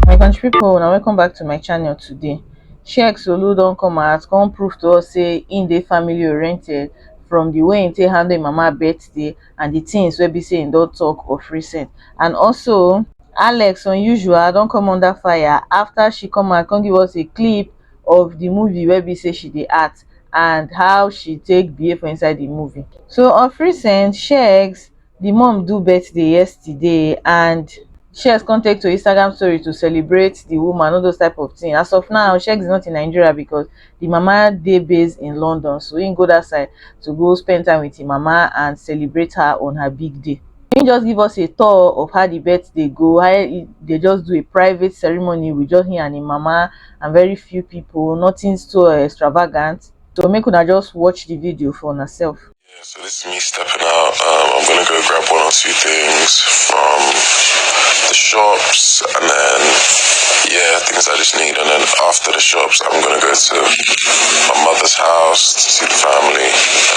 my country pipo na welcome back to my channel today sheik solu don come out come prove to us say im dey family oriented from di way im take handle im mama birthday and di tins wey be say im don tok of recent and also alex unusual don come under fire afta she come out come give us a clip of the movie wey be say she dey act and how she take behave for inside the movie. So of recent, Sheggz the mom do birthday yesterday and Sheggz come take to Instagram story to celebrate the woman, all those type of thing. As of now, Sheggz is not in Nigeria because the mama dey based in London, so he go that side to go spend time with him mama and celebrate her on her big day. im just give us a tour of how the birth dey go how e dey just do a private ceremony with just him and him mama and very few people nothing so extravagant so make una just watch the video for una self. Yeah, so this is me stepping out. Um, I'm gonna go grab one or two things from the shops, and then yeah, things I just need. And then after the shops, I'm gonna go to my mother's house to see the family.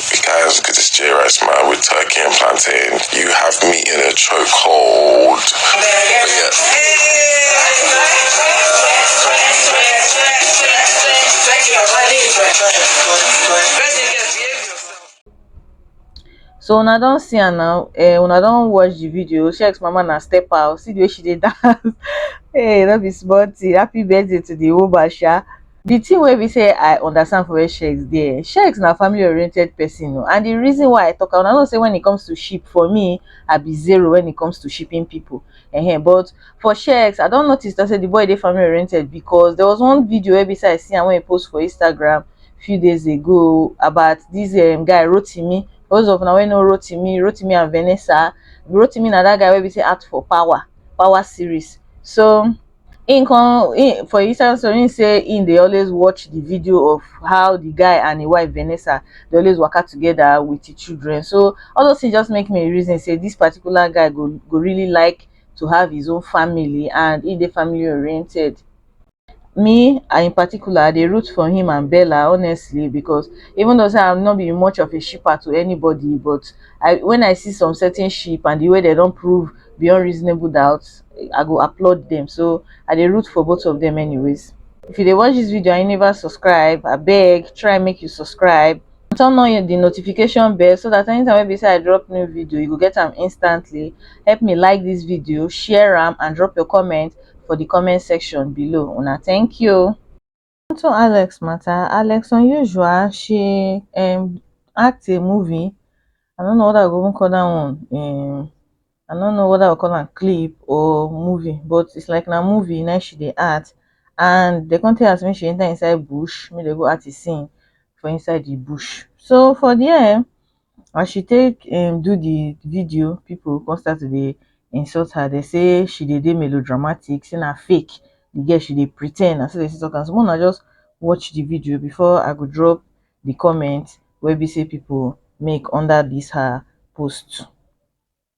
Guys, good to J Rice, man, with turkey and plantain. You have me in a chokehold. so una don see am now eh una don watch the video shex mama na step out see the way she dey dance hey no be small thing happy birthday to the woman sha The thing wey be say I understand for where Sheikh dey, Sheikh na family oriented person o and the reason why I talk am, una know say when it comes to sheep for me I be zero when it comes to shipping people um but for Sheikh I don notice say the boy dey family oriented because there was one video wey be say I see am when he post for Instagram few days ago about this um guy Rotimi, for those of una wey know Rotimi, Rotimi and Vanessa, Rotimi na that guy wey be say act for power, power series so. him come him for inside story him say him dey always watch the video of how the guy and him wife Vanessa dey always waka together with him children so all those things just make me reason say this particular guy go go really like to have his own family and he dey family oriented me I in particular I dey root for him and Bella honestly because even though say I'm not be much of a shipper to anybody but I when I see some certain ship and the way they don prove beyond reasonable doubt i go applaud them so i dey root for both of them anyways if you dey watch this video and you never subscribe abeg try make you subscribe turn on the notification bell so that anytime wey be say i drop new video you go get them instantly help me like this video share them, and drop your comment for the comment section below una thank you unto alex matter alex unusual she um act a movie i no know whether i go even call dat one um i no know whether i go call am clip or movie but it's like na movie na im she dey act and dey come tell her say make she enter inside bush make dem go act the scene for inside the bush so for there as she take um do the video people come start to dey insult her dey say she dey dey melodramatic say na fake the girl she dey pre ten d na so dey take talk am so make una just watch the video before I go drop the comment wey be say people make under this her post.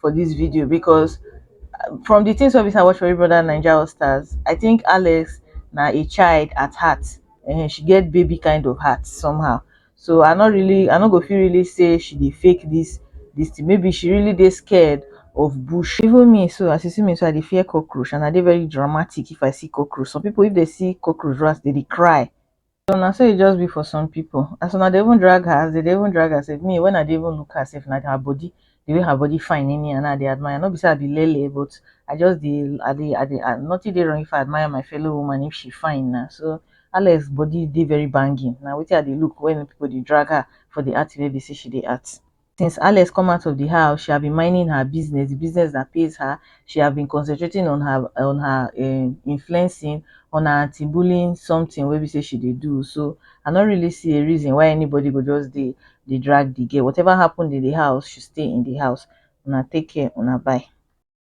for this video because uh, from the things of this I watch for brother Nigeria All Stars, I think Alex now a child at heart and she get baby kind of heart somehow. So I not really I not go feel really say she did fake this this thing. Maybe she really they scared of bush. Even me, so as you see me, so I dey fear cockroach and I dey very dramatic if I see cockroach. Some people, if they see cockroach rats, they dey cry. So na so e just be for some people. As una dey even drag her, as they dey even drag her sef, me when I dey even look her sef, na her body, the way her body fine in me and I dey admire. No be say I be lele, but I just dey, I dey, I dey, I, nothing dey wrong if I admire my fellow woman if she fine na. So Alex body dey very banging. Na wetin I dey look when people dey drag her for the art wey be say she dey art. since alex come out of the house she have been minding her business the business that pays her she have been concentrating on her on her um influencing on her anti-bullying something wey be say she dey do so i no really see a reason why anybody go just dey dey drag the girl whatever happened in the house should stay in the house una take care una bye